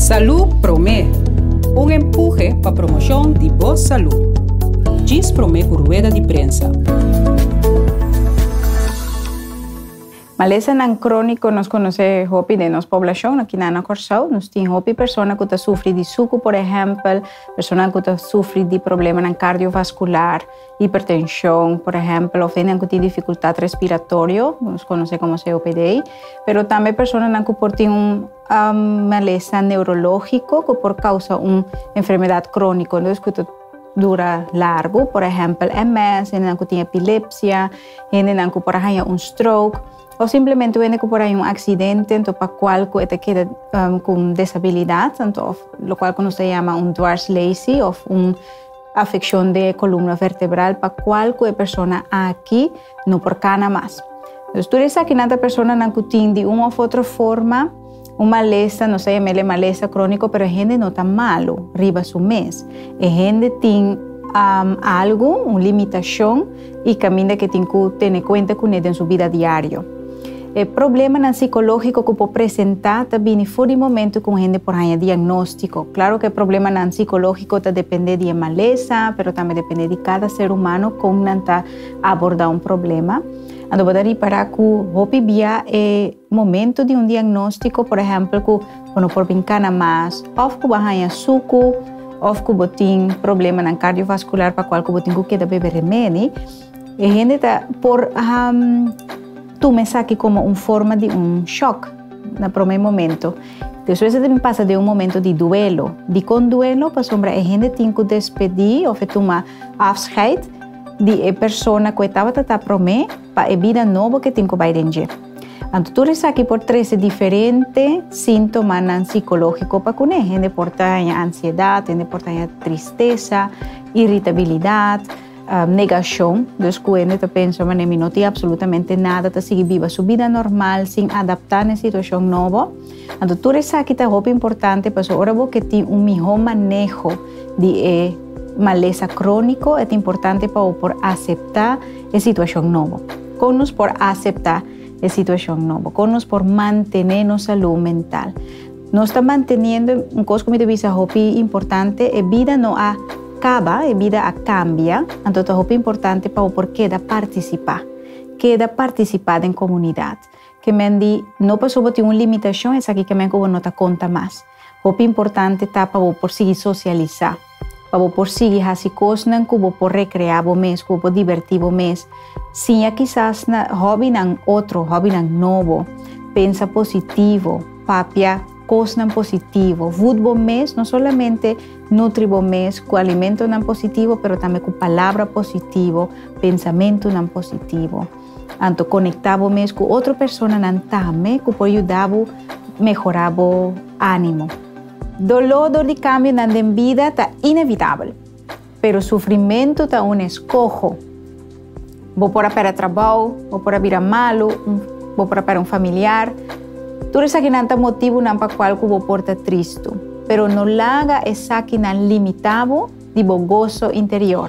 Salú Promé, un empuje pa promoshon di bo salú. Djis Promé ku rueda di prensa. Malesanan króniko nos konosé hopi den nos poblashon aki na Kòrsou. Nos tin hopi persona ku ta sufri di suku, por ehèmpel, persona ku ta sufri di problemanan kardiovaskular, Hipertenshon, por ehèmpel, of hendenan ku tin difikultat respiratorio, ku nos konosé komo COPD, pero tambe personanan ku por tin un malesa neurológiko ku por kousa un enfermedat króniko dus ku ta dura largu, por ehèmpel, MS, hendenan ku tin epilepsia, hendenan ku por a haña un stroke, òf simplemente un hende ku por a haña un aksidente anto pa kual ku e ta keda ku un desabilidat, anto òf lokual ku nos ta yama un dwarslesi òf un. Afeccion de e columna vertebral pa cual cu e persona aki no por cana mas. Dus tur esakinan ta personanan cu tin di un of otro forma un malesta, nos ta yamel e malesta cronico, pero e hende no ta malu riba su mes. E hende tin algu, un limitacion. i kaminda ke tin ku tene kuenta kuné den su bida diario. E problemanan sikológiko ku por presentá ta bini for di momentu ku un hende por haña diagnóstiko. Klaru ku e problemanan sikológiko ta dependé di e malesa, pero tambe dependé di kada ser humano kon nan ta abordá un problema. Anto bo ta ripará ku hopi bia e. Momento di un diagnóstiko, por ehèmpel ku bo no por bin kana mas, òf ku bo haña suku, òf ku bo tin problemanan kardiovaskular pa kual ku bo tin ku keda bebe remedi, e hende ta por tuma esaki komo un forma di un shòk na promé momento. Despues e ta bin pasa den un momento di duelo. Dikon duelo? Pasobra e hende tin ku despedí òf e tuma afscheid di e persona ku e tabata ta promé, Pa e bida nobo ke tin ku bai den dje. Anto tur esaki por trese diferente sintomanan sikológiko pa kuné. Hende por ta haña ansiedat, hende por ta haña tristesa, iritabilidat, negashon. Dus ku hende ta pensa, manera mi no tin absolutamente nada, ta sigui biba su bida normal sin adaptá na e situashon nobo. Anto tur esaki ta hopi importante pasobra ora bo ke tin un mihó maneho di e malesa króniko e ta importante pa bo por aseptá e situashon nobo. Kon nos por aseptá e situashon nobo? Kon nos por mantené nos salú mental? Nos ta manteniendo, un kos ku mi ta bisa hopi importante, e bida no a kaba, e bida a kambia, anto ta hopi importante pa bo por keda partisipá, keda partisipá den komunidat. Ke men di, No paso bo tin un limitashon, esaki ke men ku bo no ta konta mas. Hopi importante ta pa bo por sigui sosialisá, pa bo por sigui hasi kosnan ku bo por rekreá bo mes, ku bo por dibertí bo mes. Siña kisas na hòbinan otro, hòbinan nobo. Pensa positivo, papia kosnan positivo. Vut bo mes, no solamente nutri bo mes ku alimentonan positivo, pero tambe ku palabra positivo, pensamentunan positivo. Anto konektá bo mes ku otro personanan tambe ku por yuda bo mehorá bo ánimo. Doló dor di kambionan den bida ta inevitabel, pero sufrimentu ta un eskoho. Bo por a pèrdè trabou, bo por a bira malu, bo por a pèrdè un familiar. Tur esakinan ta motibunan pa kual ku bo por ta tristu, pero no laga esakinan limitá bo di bo goso interior.